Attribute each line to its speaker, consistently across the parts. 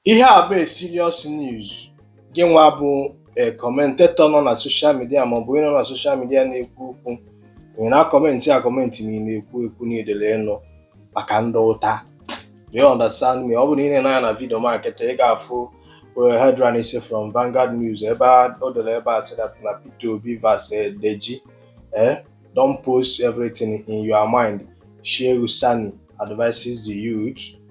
Speaker 1: Ihe a bụ a serious news gị nwa bụ a commentator nọ na social media maọbụ onye nọ na social media na-ekwu okwu ị na-akọmentị akọmentị na ị na-ekwu ekwu na idele ịnụ maka ndị ụta do you understand me ọ bụrụ na i lee anya na video m a kịta ị ga-afụ eh, headlines from Vanguard News ebe a- o dere ebe ọ sị that na Peter Obi vs eh, Deji eh, don't post everything in your mind Shehu Sani advises the youth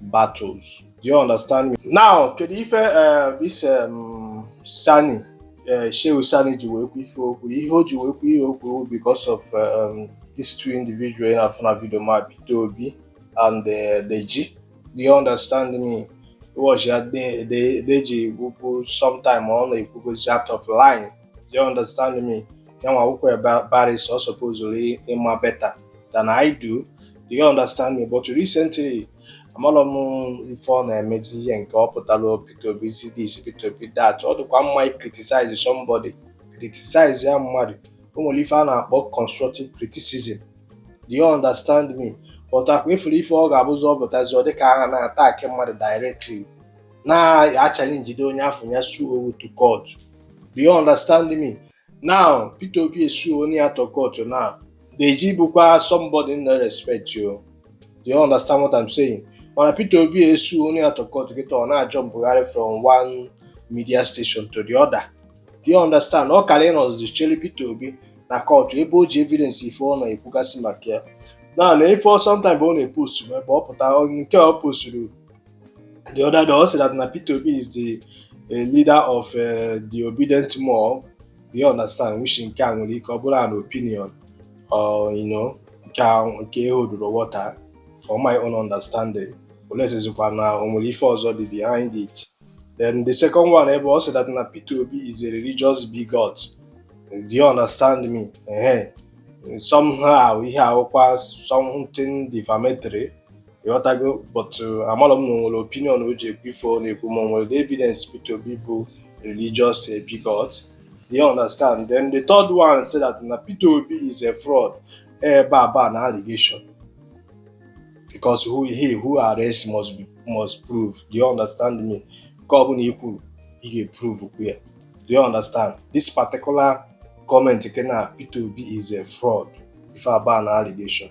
Speaker 1: battles. Do you understand me? Now, kedu ife uh, this um, Sani uh, Shehu Sani ji wee kwu ife o kwu ihe o ji wee kwu ihe o kwu because of um, these two individuals ị na-afụ na video m a Peter Obi and uh, Deji. Do you understand me? was ya De- De- Deji wụpụ sometime ọ na-ekwugozi out of line do you understand me ya nwa wụkwa a barrister ọ supposulu ịma better than I do do you understand me but recently amalọ m ife ọ na-emezi ihe nke ọ pụtara Peter Obi this Peter Obi that ọ dịkwa mma i criticize somebody criticize ya mmadụ o nwere ife a na-akpọ constructive criticism do you understand me but ọkwa ị fụrụ ife ọ ga-abụzi ọ pụtazi ọ dịka a na-attack mmadụ directly na-achallenge onye afụ ya suo you to court do you understand me now Peter Obi esuonụ ya to court now Deji bụkwa somebody m na-respect oo. Do you understand what I'm saying? Mana Peter Obi esuonụ ya to court kịta ọ na-ajumpụgharị from one media station to the other. Do you understand? Ọ kaara ịnọzi chere Peter Obi na court ebe o ji evidence ife ọ na-ekwugasị maka ya. Na na ife ọ sometime ọ na-epost ebe ọ pụta nke ọ posturu the other day ọ sị that na Peter Obi is the eh, leader of eh, the Obidient mob do you understand which nke a nwere ike ọ bụrụ an opinion or you know nke a nke eholdurọ water for my own understanding unless zikwa na o nwere ife ọzọ dị behind it then the second one ebe ọ sị that na Peter Obi is a religious bigot do you understand me ehe somehow ihe a wụkwa something defamatory ị ghọtago but uh, amalọ m na o nwere opinion o ji ekwu ife ọ na-ekwu ma o nwere the evidence Peter Obi bụ religious eh bigot do you understand then the third one sị that na Peter Obi is a fraud ife a bụ an allegation because who he who alleges must be must prove do you understand me nke ọbụla i kwuru ị ga-eprovekwa ya do you understand this particular comment nke na Peter Obi is a fraud ife a bụ an allegation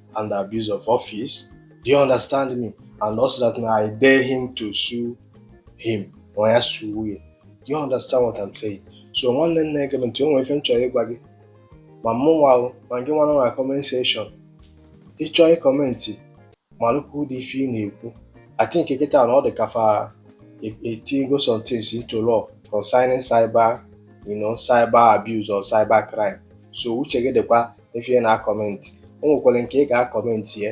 Speaker 1: and abuse of office do you understand me and also that na i dare him to sue him na ya suo ya do you understand what i'm saying so nwanne nne gee ntị o nwere ife m chọrọ ịgwa gị ma mụ nwa ahụ ma gị nwa nọ na comment section ị chọọ ịkọmentị malụkwa ụdị ife ị na-ekwu i think kịta na ọ dị ka fa etinyego some things into law concerning cyber you know cyber abuse or cyber crime so uche gị dịkwa ife ị na-akọmentị o nwekwara nke ị ga-akọmentị ya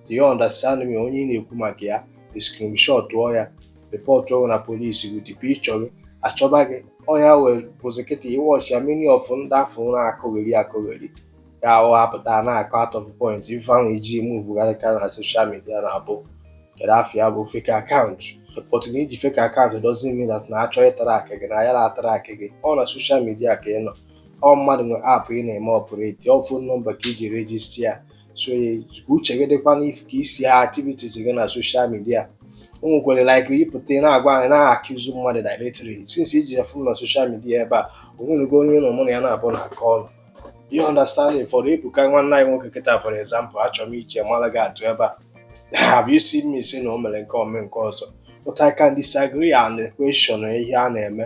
Speaker 1: do you understand me onye ị na-ekwu maka ya screenshotụọ ya rịpọtụọrọ na polisi with picture gị a chọba gị ọnya wee bụzi kịta ị wọchịa many of ndị afụ ụra akọgheri akọgheri ya ahụ apụta na-akọ out of point ife ha ji muvugharịkarị na soshal midia na-abụkarị afọ ya bụ fake akaụntụ but na i ji fake akaụntụ doesn't mean that na a chọọ ịtrakị gị na ya na-atrakị gị ọ na soshal midia ka ị nọ ọ mmadụ nwe aapụ ị na-eme ọpụreti ọ fon nọmba ka i ji rejista ya so uche gị dịkwa n'ife gbasara activities gị na soshal midia o nwekwere like ị pụta na-agwa anyị na-accuse mmadụ directly since i ji ya fon na soshal midia ebe a o nwenugo onye nọ mụ na ya na-abụ na-akọ ọnụ you understand for ebuka nwanne anyị nwoke kịta for example achọrọ m iji maara gị atụ ebe a have you seen me say na o mere nke a mee nke ọzọ but I can disagree and question ihe a na-eme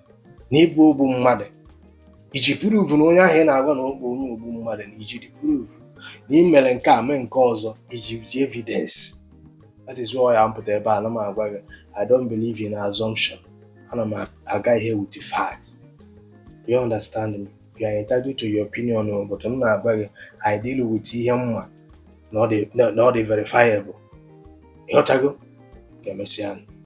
Speaker 1: na ị bụ ogbu mmadụ i ji proof na onye ahụ ị na-agwa na ọ bụ onye ogbu mmadụ na i ji the proof na ị mere nke a mee nke ọzọ i ji ji evidence that is why ya m pụta ebe a na m agwa gị I don't believe in assumption ana m aga ihe with the facts you understand me you are entitled to your opinion o but m na-agwa gị I deal with ihe m ma na ọ dị verifiable ịghọtago ka emesịa